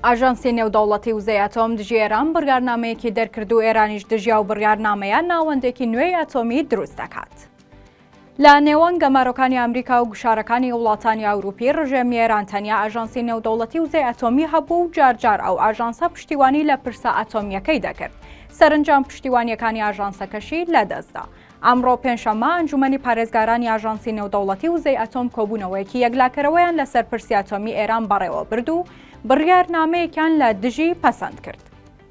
ئاژانسی نێودەوڵەتی وزەی ئەتۆم دژی ئێران بڕیارنامەیەکی دەرکرد و ئێرانیش دژی ئەو بڕیارنامەیە ناوەندێکی نوێی ئەتۆمی دروست دەکات. لە نێوان گەمارۆکانی ئەمریکا و گوشارەکانی وڵاتانی ئەوروپی ڕژێمی ئێران تەنیا ئاژانسی نێودەوڵەتی وزەی ئەتۆمی هەبوو و جارجار ئەو ئاژانسە پشتیوانی لە پرسە ئەتۆمییەکەی دەکرد سەرنجام پشتیوانیەکانی ئاژانسەکەشی لەدەستدا ئەمڕۆ پێنجشەممە ئەنجومەنی پارێزگارانی ئاژانسی نێودەوڵەتی وزەی ئەتۆم کۆبوونەوەیەکی یەکلاکەرەوەیان لەسەر پرسی ئەتۆمی ئێران بەڕێوەبرد و بڕیارنامەیەکیان لە دژی پەسەند کرد.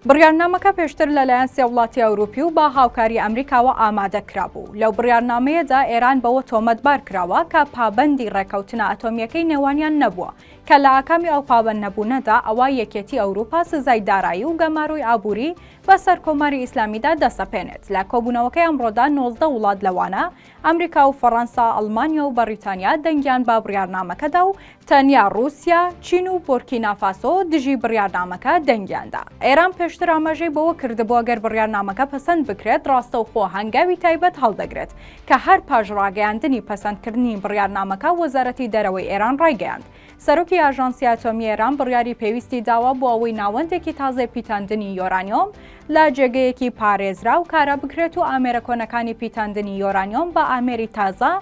بڕیارنامەکە پێشتر لەلایەن سێ وڵاتی ئەوروپی و بە هاوکاری ئەمریکاوە ئامادە کرابوو. لەو بڕیارنامەیەدا ئێران بەوە تۆمەتبار کراوە کە پابەندی ڕێککەوتنە ئەتۆمییەکەی نێوانیان نەبووە، کە لە ئاکامی ئەو پابەندنەبوونەدا ئەوا یەکێتی ئەوروپا سزای دارایی و گەمارۆی ئابووری بە سەر کۆماری ئیسلامیدا دەسەپێنێت. لە کۆبوونەوەکەی ئەمڕۆدا نۆزدە وڵات لەوانە ئەمریکا و فەڕەنسا، ئەڵمانیا و بەڕیتانیا دەنگیان بە بڕیارنامەکە دا و تەنیا ڕووسیا، چین و بۆرکینافاسۆ دژی بڕیارنامەکە دەنگیان دا. ئێران پێشتر ئاماژەی بەوە کردبوو گەر بڕیارنامەکە پەسەند بکرێت ڕاستەوخۆ هەنگاوی تایبەت هەڵدەگرێت کە هەر پاش ڕاگەیاندنی پەسەندکردنی بڕیارنامەکە وەزارەتی دەرەوەی ئێران ڕایگەیاند سەرۆکی ئاژانسی ئەتۆمی ئێران بڕیاری پێویستی داوە بۆ ئەوەی ناوەندێکی تازەی پیتاندنی یۆرانیۆم لە جێگەیەکی پارێزراو کارا بکرێت و ئامێرە کۆنەکانی پیتاندنی یۆرانیۆم بە ئامێری تازە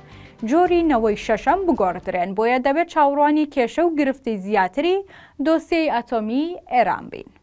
جۆری نەوەی شەشەم بگۆڕدرێن بۆیە دەبێت چاوەڕوانی کێشە و گرفتی زیاتری دۆسیەی ئەتۆمی ئێران بین.